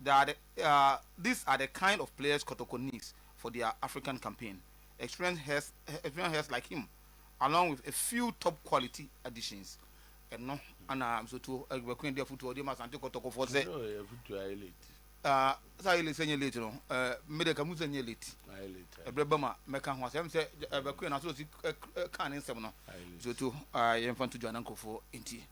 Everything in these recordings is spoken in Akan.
They are the uh, these are the kind of players Kotoko needs for their African campaign. Experienced heads, experienced heads like him, along with a few top quality additions. ɛno ana msotuo agbakun de afutuo de ma asante kɔtɔkɔfoɔ sɛ saa yɛ late sɛ nyɛ late no mede ka mu sɛ nyɛ late ɛberɛ ba ma mɛka ho asɛm sɛ agbakun na sɛ ɔsi ka ne nsɛm no msotuo yɛmfa nto dwana nkurɔfoɔ ntie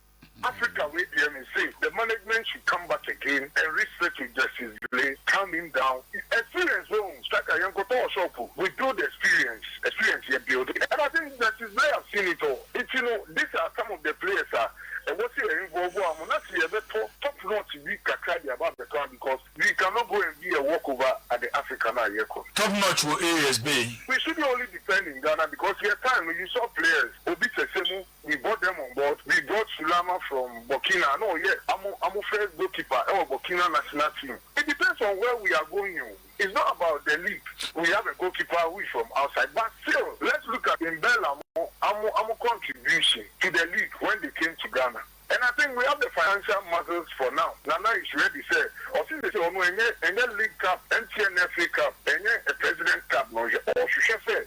Africa wei deɛ me se the management should come back again and resettle justice Zile calm him down experience wɔ hu saka yɛn kɔtɔ wɔ shop we build experience experience yɛ build and I think justice Zile have seen it all nti no this are some of the players a ɛwɔ se yɛ involve wɔ mu na se yɛ bɛ tɔ top notch bi kakra de aba abɛ tɔ a because we can not go and be a walk over at the Africa no a yɛ kɔ no. Top notch wɔ areas bɛn? We shouldn't only depend in Ghana because yɛ time no you saw players obi sɛsɛ mu. We bought them on board, we brought Sulama from Burkina na ɔyɛ ɔmo first goal keeper ɛwɔ Burkina national team. It depends on where we are going o, it's not about the league, we have a goal keeper who is from outside but still let's look at Mbella mo ɔmo contribution to the league when they came to Ghana and I think we have the financial muscles for now, Nana is ready sɛ ɔse sesei ɔno ɛnyɛ ɛnyɛ league cup ɛnteɛ ne FA cup ɛnyɛ president cup na ɔhwɛ ɔhwehwɛ sɛ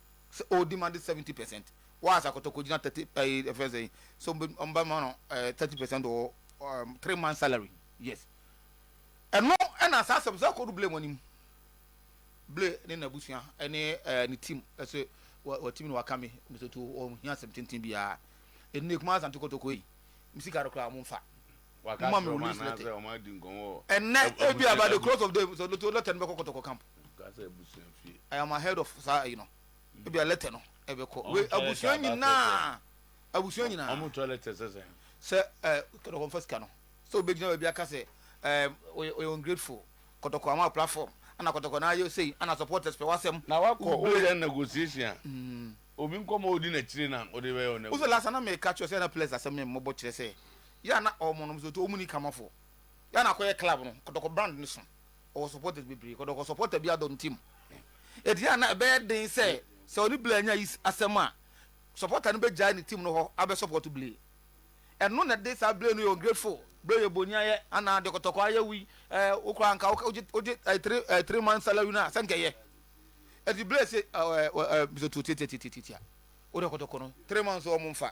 sɛ ɔredimande seventy percent wɔ a sɛ akɔtɔkɔ gyina thirty ɛyi ɛfɛ sɛ yi so ɔmo bɛ ma no ɛɛ thirty percent wɔ ɛɛm three months salary yes ɛno ɛna saa asɛm sɛ ɔkɔdo blame anim blame ne n'abusua ɛne ɛɛ ne team ɛsɛ wɔ wɔ team no waka mi mɛ sɛ tu ɔmo hia asɛm tenten biara ɛnna ekuma asante kɔtɔkɔ yi mi sika no koraa ɔmo nfa. ma me release letter. Ɛnnɛ ebia by the close of day sɛ letter letter no bɛkɔ kɔtɔkɔ camp. I am ahead of saa ayi no. Ebia letter no ɛbɛkɔ we abusua nyinaa abusua nyinaa. Wɔn tɔ letter sɛ sɛ. Sɛ ɛɛ kɔtɔkɔ nfa sika no sɛ obegyina baabi aka sɛ ɛɛ oyɛ oyɛ ungrateful kɔtɔkɔ ama platform ɛna kɔtɔkɔ na ayɛ sei ɛna supporters pɛ wasɛm. Na wakɔ o yɛ negotiation a. Obi nkɔmɔ odi n'akyire na ɔde bɛyɛ o negotiation. Wosɛ last na mɛ ka kyerɛ sɛ ɛna players asɛm mɛ mmɔbɔ kyerɛ sɛ. Yɛ a na ɔwɔ mo nom sɛ ɔmu ni kama foɔ. Yɛ a na akɔ yɛ club no ɔdɔkɔ brand no so. Ɔwɔ supporters bebree kɔdɔkɔ supporter bi adɔ no team. Ɛti yɛ a na ɛbɛyɛ den sɛ sɛ ɔne Blay anya yi asɛm a supporter no bɛ gyae ne team no hɔ abɛ support Blay. Ɛno na ɛde saa Blay no yɛ ungrateful. Blay yɛ boni ayɛ anaa deɛ kɔtɔkɔ ayɛ woi ɛɛ wo koraa nka wogye wogye ɛɛ three ɛɛ three months salary no a sɛ nka ɛyɛ. Ɛti Blay se ɛɛ ɛɛ Mr Tuo tiatiatiatiatia wo deɛ kɔtɔkɔ no three months ɔmo nfa.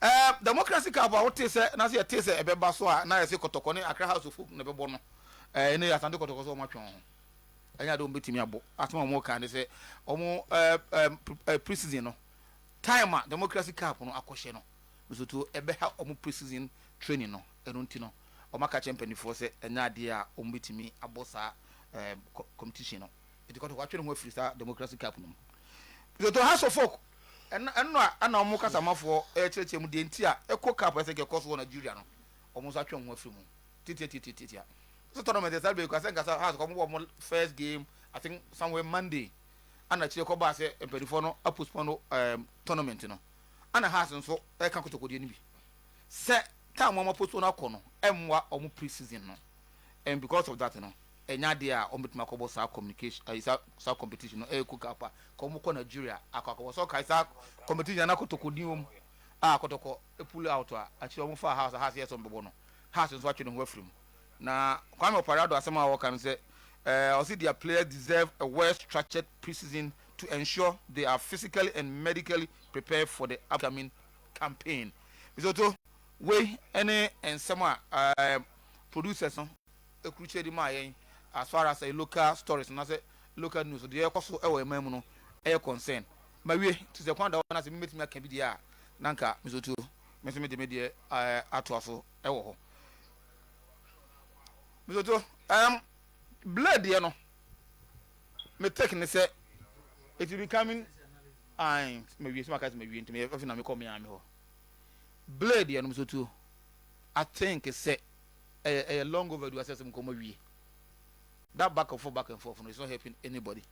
Ɛɛ Democracy Cup a wotee sɛ na sɛ yɛtee sɛ ɛbɛba so a na yɛse Kɔtɔkɔ ne Accra House of Hope na ɛbɛbɔ no. Ɛɛ ɛnnɛ yi Asante Kɔtɔkɔ sɛ wɔatwe wɔn ho. Ɛnyɛ ade a wɔbɛtumi abɔ. Asɛm a wɔka ne sɛ wɔn ɛɛ ɛɛ pre-season no time a Democracy Cup no akɔhyɛ no nsoto ɛbɛha wɔn pre-season training no. Ɛno nti no wɔaka akyerɛ mpanimfoɔ sɛ ɛnyɛ adeɛ a wɔbɛtumi abɔ saa ɛɛ competition no. Enti Kotoko atwe ne ho afiri saa Democracy Cup no mu. Lesotho House of Folk, ɛno ɛno a ɛna wɔn kasamafoɔ rekyerɛkyerɛ mu deɛ nti a Eco Cup a ɛsɛ nka ɛkɔ so wɔ Nigeria no, wɔn nso atwe wɔn ho afiri mu. Titiatitiatiatia. So tournament yɛ saa bɛyi kɔ asɛ nka sɛ House kɔ wɔn bɔ wɔn first game, I think somewhere Monday, ɛna akyire kɔ baa sɛ mpanimfoɔ no apostpone um, tournament no. Ɛna House nso ɛka Kotoko deɛ no bi. Sɛ time wɔn apostpone akɔ no ɛmmoa wɔn pre-season no. And because of that no, ɛnyɛ adeɛ a wɔbɛtumi akɔbɔ saa communication ɛyi saa saa competition no ɛyɛ kuka pa ka wɔn kɔ Nigeria akɔ akɔbɔ sɛ ɔkae saa competition na kɔtɔkɔ din wɔm a kɔtɔkɔ pull out a akyire wɔn fa house a house yɛ sɛ wɔn bɛbɔ no house nso atwe ne ho afiri mu na Kwame Opare Addo asɛm a wɔka no sɛ ɛɛ ɔsi their players deserve a well structured pre-season to ensure they are physically and medically prepared for the upcoming campaign. Misoto wei ɛne nsɛm a ɛɛ producers no Ɛkurukyire de maa yɛn as far as ɛyɛ local stories anaasɛ local news deɛ ɛkɔ so wɔ yɛn man mu no ɛyɛ concern. Mawie nti sɛ kwan da hɔ na sɛ me mɛtumi aka bi deɛ a na nka me so tuo me nso mede me deɛ atoa so wɔ hɔ. Me so tuo um, Blade deɛ no me take ne sɛ it will be coming ae mawie sɛ maka sɛ mawie nti meyɛ afei na mekɔ me ame hɔ. Blade deɛ no me so tuo I think sɛ ɛyɛ ɛyɛ long overdue asɛ sɛ nkɔmmɔ wie that back and forth back and forth no is not helping anybody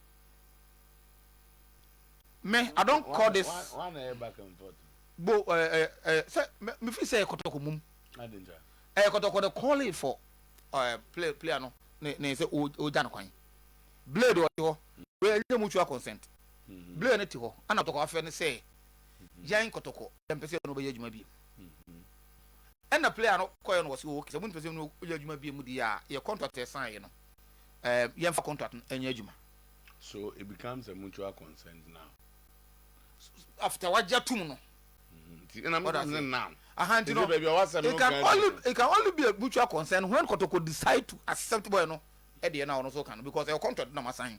me i don call this bo ɛɛ ɛɛ ɛɛ sɛ me fi sɛ ɛkɔtɔkɔ mum ɛyɛ kɔtɔkɔ de calling for ɛɛ play player no ne ne sɛ o o gya no kwan blade ɔte hɔ wei ɛnyɛ mutual consent mm-hmm. blade ne te hɔ ɛna kɔtɔkɔ afɛ ne sɛ mm-hmm. yɛn kɔtɔkɔ yɛn pɛ sɛ yɛn no bɛyɛ adwuma bi. Mm-hmm. Ɛna player no kɔɛ no wɔse oo sɛ monpɛ sɛ no yɛ adwuma biemu deɛ a yɛ contract a ɛsan yɛ no ɛɛm yɛ nfa contract no nyɛ adwuma. So it becomes a mutual consent now. After wagye atom no. Nti ɛna meka sɛ now. Aha nti no it can only it can only be a mutual consent when kɔtɔkɔ decide to accept bɔɛ no ɛdeɛ no a ɔno nso ɔka no because ɛyɛ contract na mo asan.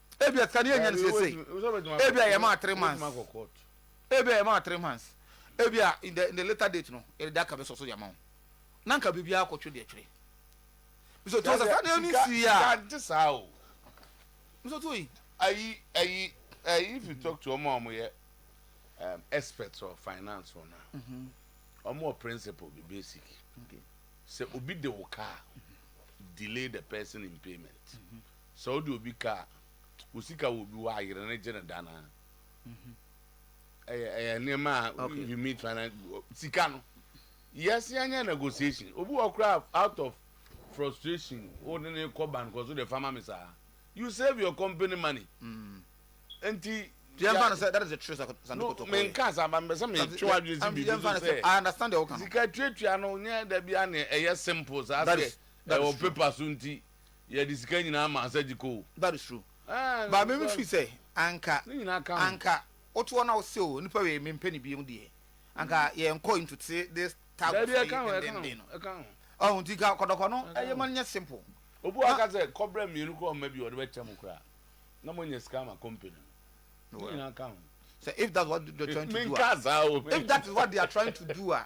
Ebia sika no yɛ nya no seesei. Ebia yɛ maa three months. Ebia yɛ maa three months. Ebia in the in the later date no yɛ de aka bɛ sɔ so yɛ ma wo. Na nka biribi akɔ twere deɛ twere. Miso tuo sɛ saa nneɛma mi si ya. Sika nti saa o. Miso tuo yi. Ayi ayi ayi if you talk to ọmọ ọmọ yɛ um, experts or finance or na. Mm-hmm. Ọmọ wɔ principle bi basic. Okay. Sɛ obi de wo car delay the person in payment. Mm-hmm. Sɛ wode obi ka a, wo sika wɔ obi hɔ a yere no gye no da no ara. Ɛyɛ ɛyɛ nneɛma a Okay. if you meet finance sika no yes yɛnyɛ negotiation obi wɔ koraa out of frustration wo ne ne kɔ ban kɔ so de fama me saa you save your company money nti Yɛmfa no sɛ that is a true sa- no sandukotokoe. menka saa ba mepɛ sɛ Santi- metwe w'adwene si I'm- biribi yɛmfa so no sɛ sɛ I understand deɛ woka no. sika tuatua no nyɛ da bia ne ɛyɛ simple saa That sɛ is- that is ɛwɔ true. paper so nti Yɛ de sika nyinaa maa Sajik o. Ba no suro. Ba me me firi sɛ anka anka wo to hɔ na wo se o nipa wei me mpɛ no bio deɛ anka yɛ nkɔ into te this tagos yi dendenden no. Ɔho nti ka kɔdɔkɔ no ɛyɛ ma no nyɛ simple. Obi wa ka sɛ kɔ brɛ mmienu kɔ ɔma bi ɔde bɛ kyɛ mo koraa na mo nya sika ama company no. Ne nyinaa ka ho. Sɛ if that's what they are trying to do a. Menka saa o. If that is what they are trying to do a.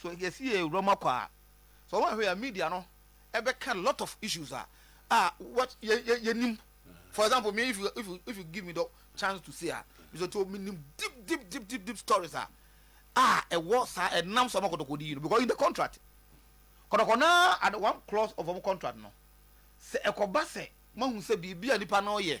So yɛse yɛwura mu akɔ a, sɛ ɔma hwɛ a media no ɛbɛka lot of issues a a what yɛnim for example me if you, if you, if you give me the chance to say a mesɛ to menim deep deep deep deep deep stories a a ɛwɔ saa ɛnam sɛ ɔma kɔtɔkɔdi yi no because in the contract kɔtɔkɔ na at one clause of ɔmo contract no sɛ ɛkɔba sɛ mahu sɛ biribi a nipa no yɛ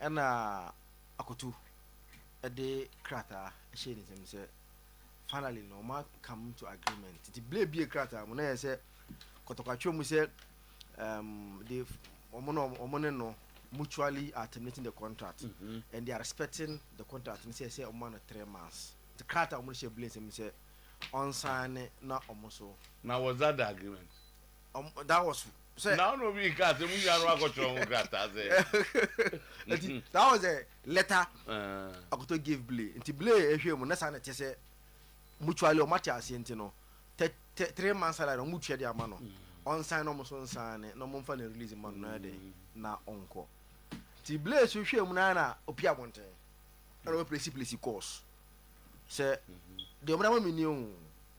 Ɛnna Akoto de krataa hyɛɛ ne nsam sɛ, Finally no, wɔn come to agreement. Nti bere ebie krataa mu na yɛ sɛ kɔtɔkwatwa mu sɛ um, they wɔn na wɔn ne no mutually are terminating the contract mm -hmm. and they are respecting the contract ne sɛ sɛ wɔn ano three months. Nti krataa wɔn hyɛ bere nsam sɛ ɔnsan ne na wɔn so. Na wɔdza da agreement. Ɔm that was sɛ. Na ɔna obi nkaa sɛ mo nua no akɔtwerɛ ho krataa sɛ. Nti that was the letter Akoto gave Blay. Nti Blay ɛhwɛɛ mu na saa na ɛte sɛ mutually ɔmo ate aseɛ nti no tɛ tɛ three months salary na ɔmo tua de ama no ɔnsan na ɔmo so nsaane na ɔmo nfa no release ma no na yɛ dɛ na ɔnkɔ. Nti Blay so hwɛɛ mu na na opie abɔnten ɛna ɔbɛ plesi plesi calls sɛ deɛ ɔmo de ama me nie o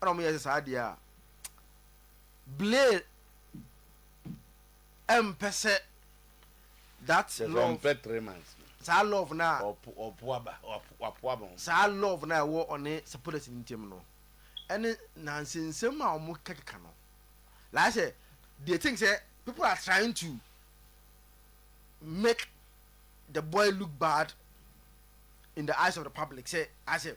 ɛna wɔyɛ sɛ saa deɛ a Blair ɛmpɛ sɛ that love saa love no a saa love no a ɛwɔ ɔne Sepphoris no ntam no ɛne nansensɛm a wɔn kɛkeka no like sɛ they think sɛ people are trying to make the boy look bad in the eyes of the public sɛ asɛ.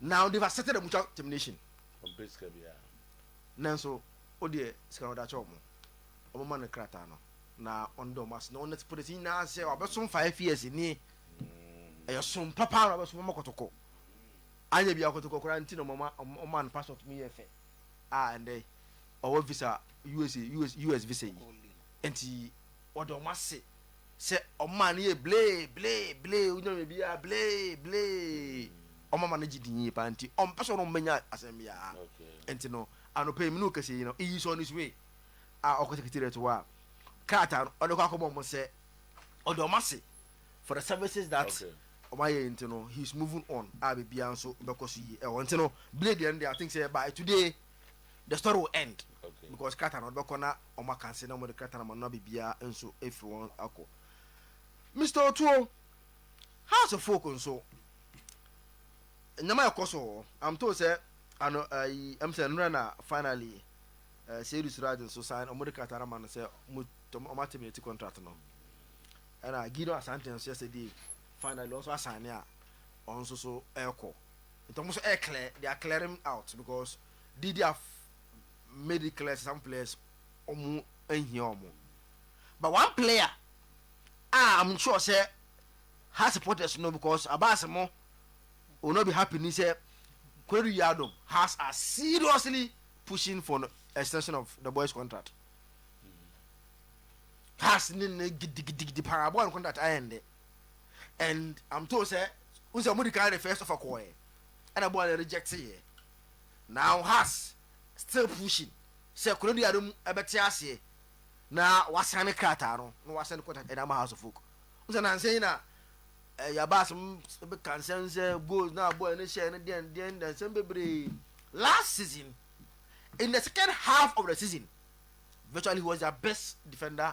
Now they've accepted a mutual termination. Ɔmpɛ sika biara. Nanso wodeɛ sika no ɔde akyɛ wɔn. Wɔn ma no krataa no na ɔno de wɔn ase na ɔnɛte polisi nyinaa sɛ wabɛsom five years nie. Ɛyɛ mm. som papa na ɔbɛsom wɔn kɔtɔkɔ. Anyɛ bi akɔtɔkɔ koraa nti na wɔn ma no passport mu yɛ fɛ. A ɛndɛ ɔwɔ visa US US US visa yi nti ɔde wɔn ase. Sɛ ɔmaa no yɛ blee blee blee onya biribiara blee blee ɔma ma no gye din yie paa nti ɔmpɛ sɛ ɔno mmɛnya asɛm biara nti no anɔpa yi me ne wo kɛsɛ yi no iyi sɛ ɔno sue a ɔkɔ secretariat hɔ a krataa no ɔde kɔ akɔma ɔmo sɛ ɔde ɔmo ase for the services that okay. ɔmo ayɛ nti no he is moving on a biribiara nso bɛkɔ so yie ɛwɔ nti no blee deɛ no deɛ I think sɛ by today the story will end okay. because krataa na ɔde bɛkɔ na wɔn akanse na wɔn de krataa na wɔn nna biribiara nso efiri wɔn akɔ mr otuo house of folk nso nneɛma ɛkɔ so wɔ i'm told sɛ ano ayi ɛm sɛ nnura na finally ɛɛ eh, seyidu siraj nso sign wɔn de krataa na ma no sɛ wɔn tɔm wɔn atɛm yɛ ti contract no ɛna gideon asante nso yɛ sɛ die finally wɔn nso asan ne a wɔn nso so ɛrekɔ. nti ɔmo nso ɛɛklɛɛ they are clearing out because did they have made it clear some players ɔmo nhia ɔmo but one player a I'm sure sɛ ha supporters no because abas mo will not be happy ni sɛ Kwadu Yiadom has are seriously pushing for extension of the boys contract has ne ne gidigidigidi paa boy contract ayɛ nde. and am told sɛ wohu sɛ wɔde kan refers ɔfa kɔɔɛ ɛna boa no rejecteeɛ now has still pushing sɛ Konadu Adom ɛbɛte aseɛ na wasane krataa no na wasɛn contact ɛde ama House of Folk wohu sɛ nansa yi na eh, yaba asɛm bɛka nsɛm sɛ goals na boa no hyɛ no deɛn deɛn deɛn nsɛm bebree last season in the second half of the season virtually he was their best defender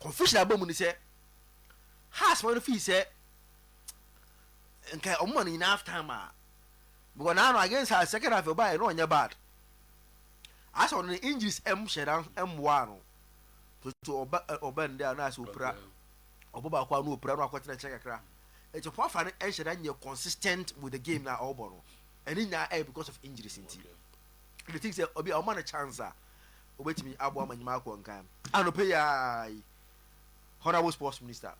Confusion aba mu ne sɛ, Haas ma no fii sɛ nka ɔmo ma no nyinaa half time a mewɔ n'ano against Haas second half ɛbaa yɛ na ɔnyɛ bad asɛ ɔno ne injuries ɛm hyɛ na ɛmmoa ano tutu ɔba ɔba ndɛ a na asɛ opira ɔbɔ baako a na opira na akɔtena nkyɛn kakra ɛkyɛ po afa no ɛnhyɛ na nyɛ consistent with the game na ɔbɔ no ɛne nyinaa ɛyɛ because of injuries nti okay. they think sɛ ɔbi a ɔma no chance a obetumi aboa ma nnwuma akɔ nkan. Anɔpa yi ara yi, Honourable Sports Minister,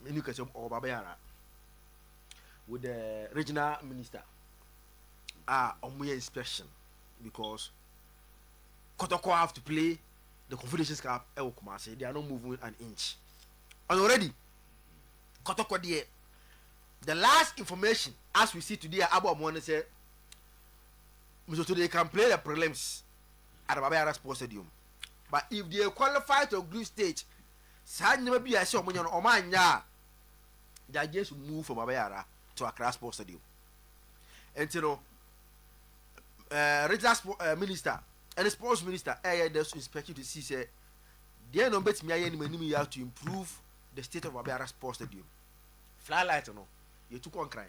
Menu Kɛse ɔwɔ ba bɛyɛ ara, with the regional minister a wɔn yɛ inspection because Kɔtɔkɔ have to play the Confederations Cup ɛwɔ Kumasi, they are not moving an inch. And already, Kɔtɔkɔ deɛ, the last information as we see today a abɔ wɔn ne sɛ, Mzoto they can play the prelims. Ada Baba Yara Sports Stadium but if they qualify to group stage saa nneɛma bi a ɛsɛ wɔn nyɛ no wɔn anyɛ a they just move from Baba Yara to Accra Sports Stadium nti no uh, regional sport, uh, minister ɛne sports minister ɛyɛ dɛ so inspection to see sɛ deɛ na wɔn bɛtumi ayɛ anim anim yɛ to improve the state of Baba Yara Sports Stadium flylight no yɛtu kɔ nkran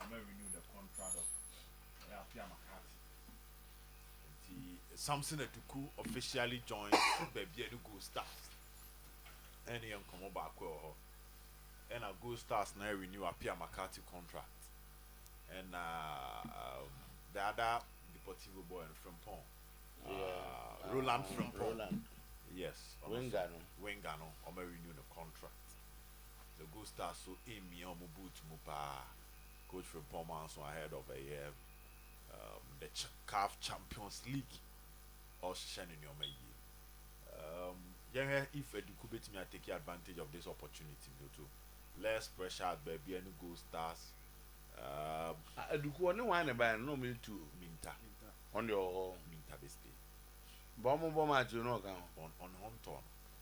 wɔarenew the contract of ɛyɛ Appiah McCarthy. Nti Samson Atuku officially joined baabi a ɛne Gold Stars ɛne yɛ nkɔmmɔ baako ɛwɔ hɔ. Ɛna Gold Stars na renew Appiah McCarthy contract. Ɛna um, the other Deportivo boy no Frimpong, yeah, uh, Roland Frimpong. Roland. Yes, winger no. Winger no, wɔarenew the contract. The Gold Stars so mmia wɔn boot mu paa. Coach Frimpong Manso ahead of ɛyɛ um, the CAF Champions League ɔhyehyɛ ne nneɛma yie. Um, yɛhwɛ if Adiku betumi atake advantage of this opportunity no to less pressure at baabi ne Gold Stars. Um, Adiku ɔne wɔn ne baeɛ no na wɔn etu o. Minta. Wɔn deɛ ɔwɔ hɔ. Minta bɛ stay. Bɔn mo bɔ match o na ɔka ho. Ɔn ɔne ho ntɔɔ no.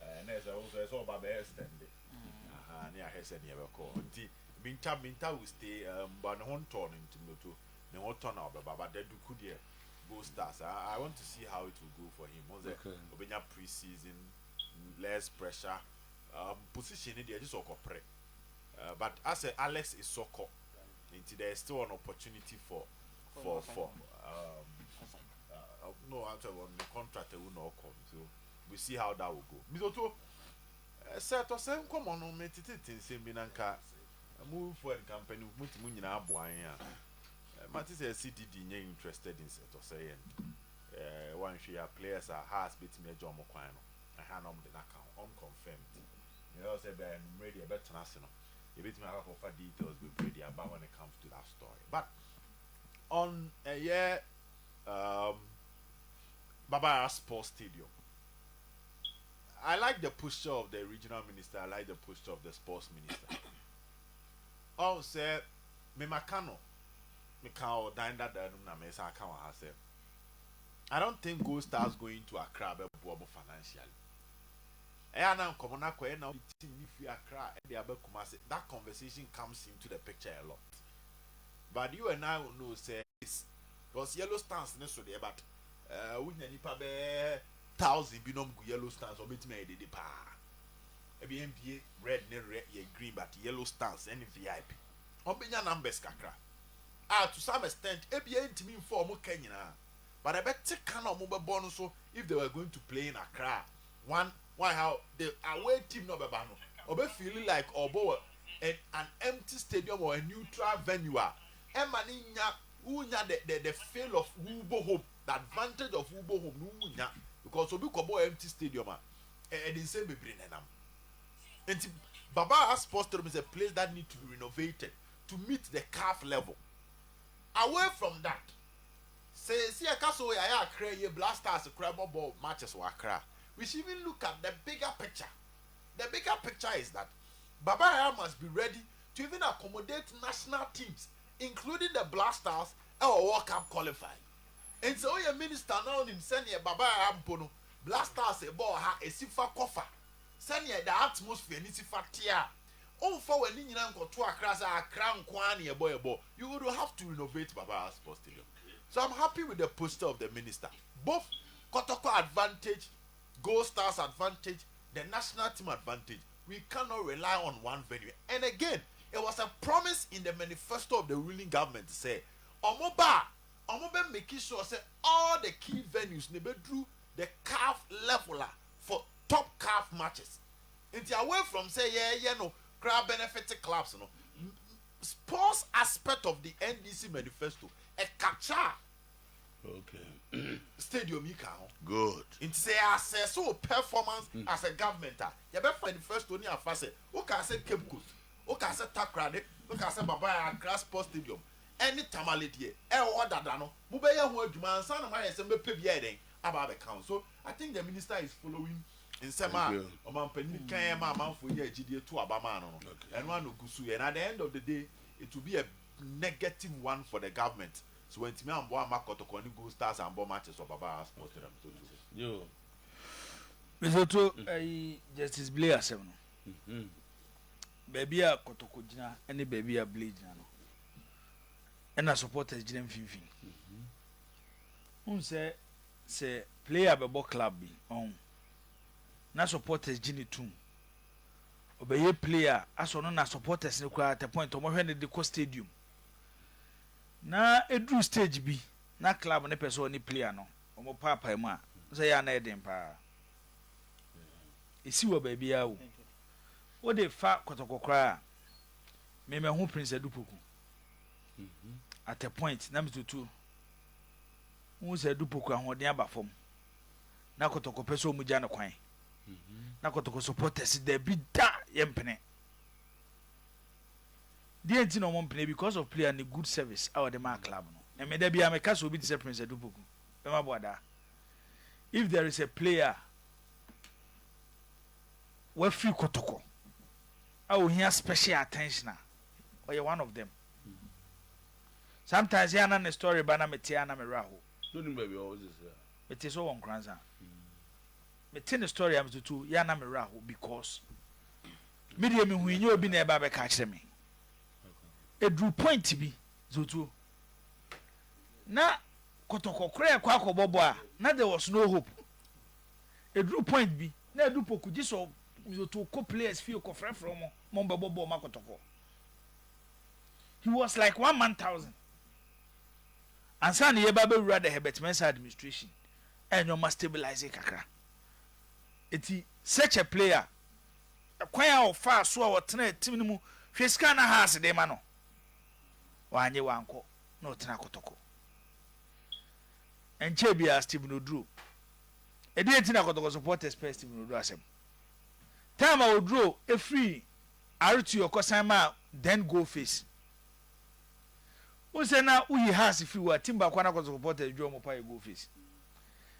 Eh, na ɛsɛ nso ɛsɛ ɔba bɛyɛ extend mm. aha ne ahwɛ sɛ neɛ bɛkɔ nti minta minta wo stay eh, mba ne ho ntɔɔ no nti mɛto ne ho tɔ na ɔbɛba ba da duku deɛ go stars I, I want to see how it will go for him ɔn sɛ ɔbɛnya pre season less pressure um, position ne deɛ ɛgye sɛ ɔkɔpere uh, but asɛ Alex Isoko nti there is still an opportunity for for for um, uh, no atɛ wɔn contract ɛwu na ɔkɔ nti o. We see how that will go. Mister Otuo, sɛ ɛtɔ sɛ nkɔmmɔ no me tetetete nsɛm bi na nka mo fo a nka mpanyinfo mo ti mo nyinaa aboa yɛn a, mate sɛ yɛse didi nyɛ interested in sɛ ɛtɔ sɛ yɛn eh, wanhwɛ yi a players a Hearts betumi agya wɔn kwan no, ɛhe a na wɔn de no aka ho, unconfirmed. Meyɛ sɛ bia anwummere deɛ ɛbɛtena ase no, yɛbɛtumi akɔ akɔfa details bebree de aba when it comes to that story. But on ɛyɛ um, Babara Sports Stadium. I like the posture of the regional minister, I like the posture of the sports minister. Ɔhu sɛ memaka no, meka wɔ dan dadaa no mu na mesa aka wɔ ha sɛ, I don't think Gold Stars going to Accra bɛboa mo financially. Ɛyɛ a na nkɔmmɔ no akɔyɛ na wode team no firi Accra de aba Kumasi. That conversation comes into the picture a lot. But you and I will know sɛ it's Cos yellow stands no so deɛ but eh, wonya nipa bɛɛ thousand bi na ɔmo gu yellow stands ɔmo bɛtumi ayɛ dede paa ɛbi yɛn bie red ne rɛ yɛ green but yellow stands ɛne vip ɔmo bɛnya numbers kakra a to some extent ɛbi yɛn ntumi nfa ɔmo ka nyinaa but ɛbɛte ka na ɔmo bɛbɔ no so if they were going to play in Accra one why how the away team na ɔbɛba no ɔbɛ feel like ɔbɔ wɔ an empty stadium or a neutral venue a ɛma ne nya Wo nya the the the feel of wo bɔ home the advantage of wo bɔ home no wo nya because obi kɔ bɔɔ empty stadium a ɛ ɛde nsɛm bebree na ɛnam nti Baba Aha Sports Stadium is a place that need to be renovated to meet the calf level away from that seesi ɛka so yɛayɛ Accra yie Black Stars kora bɔ bɔɔ matches wɔ Accra we should even look at the bigger picture the bigger picture is that Baba Aha must be ready to even accommodate national teams including the Black Stars wɔ World Cup qualifying. Enti sɛ woyɛ minister na wonim sɛdeɛ Baba Yaya mpo no Black Stars bɔ wɔ ha ɛsi fa kɔ fa, sɛdeɛ the atmosphere no si fa teɛ a, womfa w'ani nyina nkɔto Accra sɛ Accra nko ara na yɛbɔ yɛbɔ, you would have to renovate Baba Yaya Sports Stadium. So I'm happy with the posture of the minister, both kɔtɔkɔ advantage, Gold Stars advantage, the national team advantage, we cannot rely on one venue and again it was a promise in the manifesto of the ruling government sɛ ɔmo ba a ɔmo bɛ make sure sɛ all the key venues na ɛbɛduru the caf level a for top caf matches nti away from sɛ yɛɛyɛ no koraa benefit clubs no sports aspect of the NDC manifesto ɛkakyɛ a Okay. Stadium yi ka ho. Good. Nti sɛ yɛ asɛ so performance mm. as a government a yɛbɛfa university ne afa sɛ wokaa sɛ Cape Coast wokaa sɛ Takoradi wokaa sɛ Baba Accra Sports Stadium ɛne Tamale deɛ ɛwɔ hɔ dada no mobɛyɛ ho adwuma ansa na moayɛ sɛ mobɛpɛ bi ayɛ dɛn aba abɛka ho so I think the minister is following nsɛm a ɔmampanin kan yɛ ma amanfoɔ nyɛ agyidie to aba maa no no ɛno ano gu so yɛ na at the end of the day it will be a negative one for the government. So wantumi amboa amma Kɔtɔkɔ ne Gold Stars ambɔ matches wɔ Babara Sports Stadium no so bio? Mesotho ayi Justice Blay asɛm no, baabi a Kɔtɔkɔ gyina ne baabi a Blay gyina no, ɛna supporters gyina mfimfini. Wohu sɛ sɛ player bɛbɔ club bi ɔn na supporters gye ne tum ɔbɛyɛ player asɔ no na supporters no koraa at a point wɔhwɛ no de kɔ stadium Na ɛduru stage bi na club no pɛ sɛ ɔne player no wɔn paapae mu a, wo sɛ ɛyɛ a na ɛyɛ den paa. Ɛsi wɔ baabi ara o. Wo de fa Kɔtɔkɔ koraa a, me mahu Prince Adupoku. At a point na me tutu. Wohu sɛ Adupoku ahoɔden aba fam. Na Kɔtɔkɔ pɛ sɛ wɔn gya no kwan. Na Kɔtɔkɔ supporters dabi da yɛmpene. Deɛ nti na wɔn mpene because of player ne good service a ɔde maa club no. Na me da biara me ka sɛ obi te sɛ Prince Adupoku bɛma Boadaa. If there is a player a wafiri Kotoko a ohia special attention a, ɔyɛ one of them. Sometimes yɛ ana ne story ba na me te a na me werɛ ahow. Mete sɛ ɔwɔ Nkoranza. Me te ne story a me toto yɛ a na me werɛ ahow because me deɛ me hui nyɛ obi na ɛba bɛka akyerɛ me. Eduru point bi zotuo na kɔtɔkɔ kora ɛkɔ akɔbɔ bɔ a na there was no hope. Eduru point bi na edu poku gye sɛ zotuo kɔ players fie kɔ frɛfrɛ wɔn ma wɔbɛbɔ bɔɔl ma kɔtɔkɔ. He was like one man thousand. Ansa na yɛba bɛwura the Herbert Mensah administration Ɛyɛ nneɛma stabilise kakra. Enti such a player, kwan a ɔfaa so a ɔtenaa team no mu, hwɛ sika a na Hearts de ma no, wannye wankɔ na ɔtenaa Kotoko. Ɛnkyɛɛ biara Stephen Oduro. Ɛdeɛn nti na Kotoko supporters pɛɛ Stephen Oduro asɛm? Time a Oduro firii RTO kɔsan maa then goal face, Wohu sɛ na woyi Haas firi wɔ team baako a na akɔ supporters dwom wɔn paa yɛ goal face.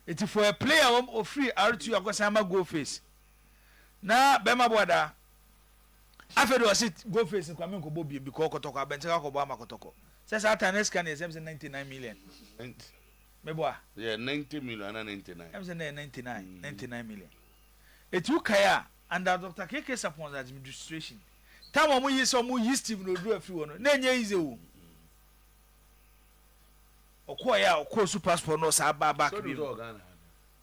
Eti for a player wɔn ofiri R2 akɔsan ma goal face. Na bɛrima boa daa. Afei de ɔse goal face no kora me nkɔbɔ biem because kɔtɔkɔ abɛnten akɔbɔ ama kɔtɔkɔ. Sɛ saa time na sika no yɛ sɛ ɛm sɛ 99 million. Me boa. Yɛ 90 million ana 99. Ɛm sɛ na yɛ 99 99 million. Eti wokae a. Under Doctor KK Sarpon's admidistration, time a wɔn yii sɛ wɔn yi Stephen Odu afiri hɔ no, na ɛnyɛ easy o. Ɔkɔɔ yɛ a ɔkɔɔ su passport no ɔsaa baa back bi mu.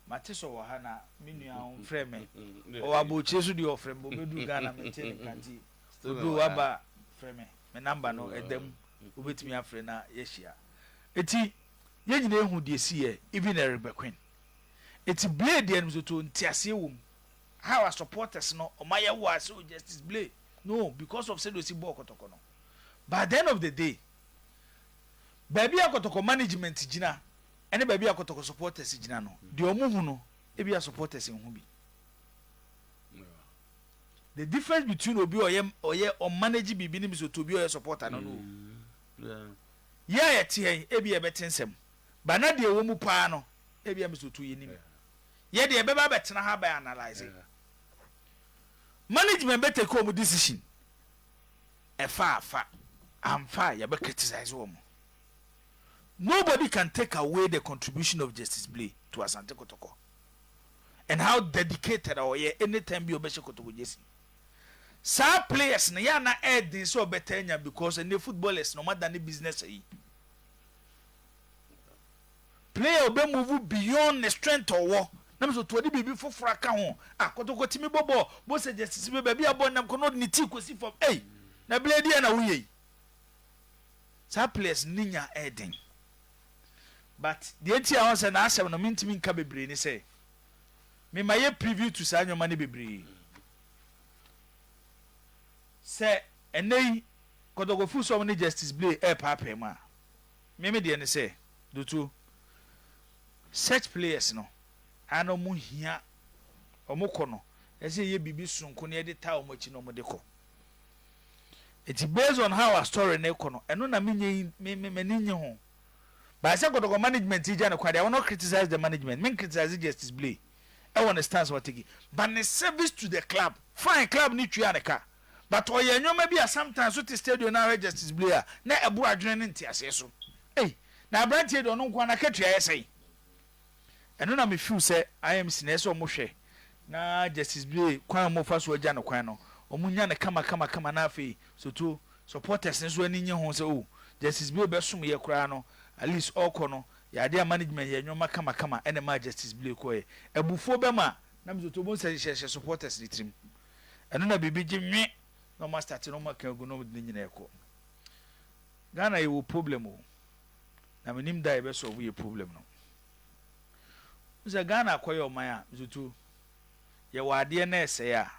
Mate sɛ ɔwɔ ha na me nua a ɔmfrɛ me. Ɔwɔ abɔkyire so deɛ ɔfrɛ me bɔ bɛduu Ghana mente ne nka nti Odu waba frɛ me. Me number no ɛda mu wobɛtumi afrɛ na yɛahyia. Eti yɛn nyinaa ehu deɛ ɛsiiɛ even Eric Bequin. Eti Blay deɛ no mesɛ ɔtoo nteaseɛ wɔ mu. how a supporters no ɔma yɛ wo a sɛ o justice blay no o because of sɛdeɛ osi bɔɔ kɔtɔkɔ no but at the end of the day baabi a kɔtɔkɔ management gyina ɛne baabi a kɔtɔkɔ supporters gyina no deɛ ɔmo hu no ebi a supporters nhu bi the difference between obi a ɔyɛ ɔyɛ ɔmanage biribi ne misoto obi a ɔyɛ supporter no no mm, yɛ a yɛteɛ ebi a yɛbɛte nsɛm ba na deɛ ɛwɔ mu paa no ebi a misoto yɛ nim. Yeah. yɛ deɛ yɛbɛba abɛtena ha abɛ analyse management bɛ take wɔn decision ɛfa afa amfa a yɛbɛ criticize wɔn nobody can take away the contribution of Justice Blay to Asante Kotoko and how dedicated a ɔyɛ anytime bi ɔbɛhyɛ Kotoko jersey saa players no yɛ ana ɛɛden sɛ ɔbɛtaa nya because ɛnɛ footballers na ɔma da ne business ayi Player a ɔbɛ move beyond ne strength a ɔwɔ na mesɛ ɔtɔ ɔde biribi foforɔ aka ho a, Kɔtɔkɔ tumi bɔ bɔɔl, Bossa Justice bɛ baabi a bɔɔl nam kɔ na ɔde ne ti kɔsi fam ei! Na bla deɛn na woyɛ yi? Saa players no ne nya ɛyɛ den but deɛ nti a wɔn sɛ n'asɛm no mentumi nka bebree ne sɛ me ma yɛ preview to saa nneɛma no bebree sɛ ɛnɛ yi Kɔtɔkɔ firi sɛ wɔn ne Justice Blay ɛrepaapaa mu a Me me deɛ ne sɛ dotuo such players no ara na ɔmo hia ɔmo kɔ no ɛsɛ yɛyɛ biribi sononko na yɛde taa ɔmo akyi na ɔmo de kɔ nti based on how a story no rekɔ no ɛno na me nyɛ me me m'ani nye ho by sɛ kɔtɔkɔ management yi gya ne kwan deɛ I will not criticize the management men criticize justice blay ɛwɔ ne stance wateki but ne service to the club fine club no tua ne ka. but ɔyɛ nneɛma bi a sometimes wote stadio na ahwɛ Justice Blay a na ɛboro adwene ne nteaseɛ so. Ei! Na aberanteɛ yi deɛ ɔno nko ara n'akatua ayɛ sɛn? Ɛno na me feel sɛ IMC no ɛsɛ sɛ wɔn hwɛ na Justice Blay kwan a wɔn fa so agya no kwan no wɔn nya no kama kama kama na afei sotuo supporters no nso ani nye ho sɛ oh Justice Blay bɛsom yɛ koraa no at least ɔɔkɔ no yɛ adeɛ a management yɛ nneɛma kama kama ɛna ɛmaa Justice Blay kɔeɛ. Abufuo bɛma na me sotuo bohu sɛ hyɛ hyɛ supporters no tirim. ɛno na biribi gye nwe na ɔma starte na ɔma kaagu na ɔde ne nyinaa ɛkɔ Ghana yɛwɔ problem o na menim da yɛbɛ sɔɔvo yɛ problem no wo sɛ Ghana akɔyɛ ɔman a zutu yɛwɔ adeɛ na ɛsɛe a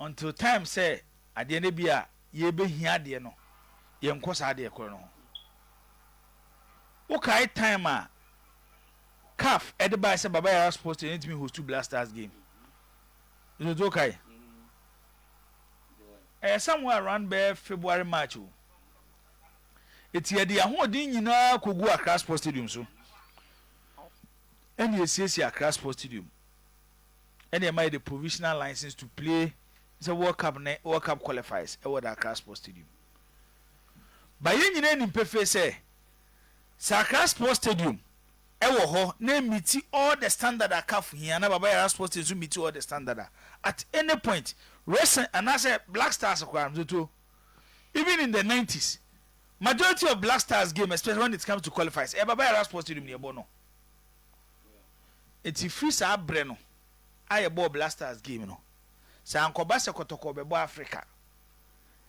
until time sɛ adeɛ no bi a yɛbɛhia adeɛ no yɛnkɔ saa adeɛ korɔ no ho wokae time a CAF ɛde bae sɛ Baba Yara Sports Stadium ntumi hostu Black Stars game Dzodzo kae. Ɛyɛ Samuel around bɛyɛ February March o. Eti yɛde yɛn ahoɔden nyinaa koguu Accra Sports Stadium so ɛna yɛsiesiee Accra Sports Stadium ɛna ɛma yɛde provisional license to play sɛ World Cup ne World Cup qualifiers ɛwɔ the Accra Sports Stadium. Ba yɛn nyinaa nim pefee sɛ sɛ Accra Sports Stadium wɔ hɔ na emiti all the standard a caf hia na Baba Yara Sports Team nso miti all the standard a, at any point, Racing anaasɛ Black Stars koraa no, Toto, even in the nineties, majority of Black Stars game, especially when it comes to qualifiers, ɛyɛ Baba Yara Sports Stadium na yɛbɔ no. Nti firi saa berɛ no a yɛbɔɔ Black Stars game no, sɛ ankɔba sɛ Kɔtɔkɔ bɛbɔ Africa,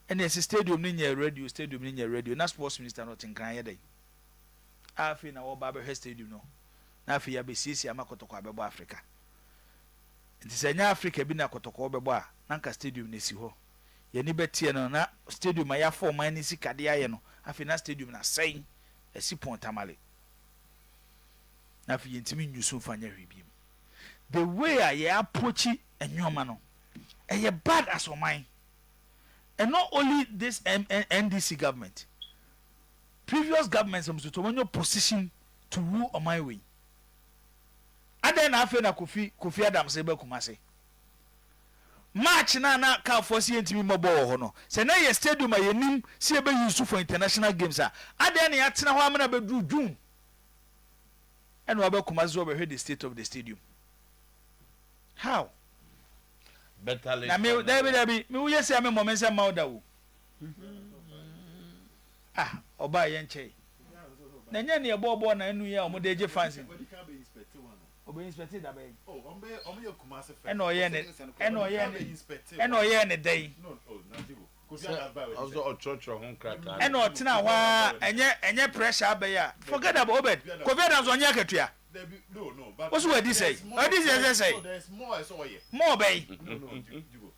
ɛnna yɛse stadium no nyɛ radio, stadium no nyɛ radio, na sports minister no ɔte nkran yɛ dɛn? a afei na wɔreba abɛhwɛ stadium no, na afei yɛabesiesie ama kɔtɔkɔ abɛbɔ Afrika. Nti sɛ ɛnyɛ Afrika bi na kɔtɔkɔ bɛbɔ a, na anka stadium no asi hɔ. Yɛn ani bɛteɛ no, na stadium a yɛafa ɔman no sika de ayɛ no, afei na stadium no asɛe, asi pon tamale. Na afei yɛntumi nyi so mfa nyɛ hwee bio. The way a yɛ approach nneɛma no, ɛyɛ bad as ɔman. And not only this NDC government. Previous government am soto wɔnyɛ opposition to rule ɔman wei adɛn na afei na kofi kofi adams reba kumase march na na car foɔ si yɛntumi mmɔ bɔɔl wɔ hɔ no sɛ na yɛ stadium a yɛnim si yɛbɛ use for international games a adɛn na yɛatena hɔ amena bɛduru june ɛna wabɛ kumase so wɔbɛhwɛ the state of the stadium how na me dabi dabi me woyɛ si a me mmɔ me nsa mma wo da wo. Ah ɔbaa yɛ nkyɛe. Na ɛnyɛ nea ɛbɔɔ bɔɔl na ɛno yi a wɔde regye fans nti. Ɔbɛ inspecte da bɛn? Ɛna ɔyɛɛ ne ɛna ɔyɛɛ ne ɛna ɔyɛɛ ne dɛn? Sɛ ɔsɛ ɔtwerɛtwerɛ ho nkrataa. Ɛna ɔtena hɔ ara ɛnyɛ ɛnyɛ pressure abɛyɛ a. Forget about Obed. Kofi Adams ɔnyɛ akatua. Wo so wadi sɛe. Ɔdi sɛe sɛ sɛe. More bɛn?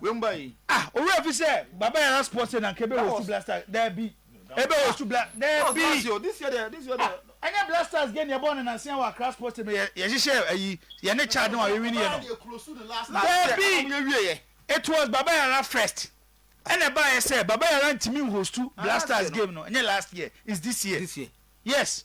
wei mu ba yi. Ah owura fi sɛ baba yara sports na nka ebe host blasters dabi ebe host bla dabi ɛnyɛ blasters game yɛbɔ ne nansia wɔ akra sports stadium yɛ yɛhyehyɛ ayi yɛne chad no a yɛwini yɛ no dabi it was baba yara first ɛna ɛbaayɛ sɛ baba yara ntumi nhostu blasters game no ɛnyɛ last year is this year yes.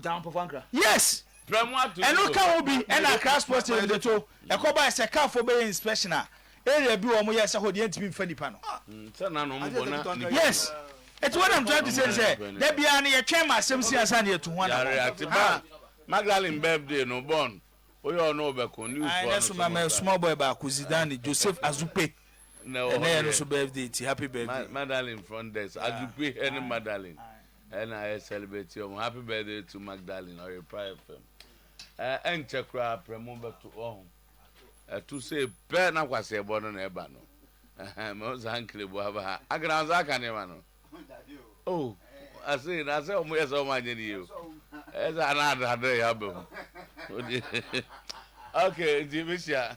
Down Pɔfo Ankra. Yes! Prɛmo ato no so. Ɛno ka ho bi ɛna Accra Sports Stadium de to. Ɛkɔ bae sɛ car foɔ bɛyɛ inspection a, area bi wɔ hɔ a wɔyɛɛ sɛ hɔ deɛ ɛntumi mfa nipa no. Sɛ na na wɔn bɔ na nipa. Yes! Nti what I'm trying to say ne sɛ, da biara no yɛtwɛn ma asɛm si ansa na yɛatu ho anammɔn. Yare ate ba. Magdalene birthday no, Born, woyɛ ɔno ɔbɛko, news foɔ no so no. Ɛnɛ so ma mɛ small boy baako, Zidane, Joseph Azupe. Ɛnɛ yɛ no so birthday nti happy birthday. Madalene Frondes, Azupe ɛne Madalene. Ɛna yɛ celebrate wɔn happy birthday to Magdalene ɔyɛ prayer fam ɛɛ ɛnkyɛ koraa prɛmo bɛto ɔho ɛto sei pɛ na kwasi ɛbɔ no na ɛba no ɛhɛn mɛ ɔnsa nkele bu aba ha akana ɔnsa aka nneɛma no oh ase na sɛ wɔn yɛ sɛ wɔn anyɛ ne yie o ɛyɛ sɛ ana adadɔ yɛ aba mu okay nti mehyia.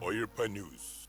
Oyirpa News.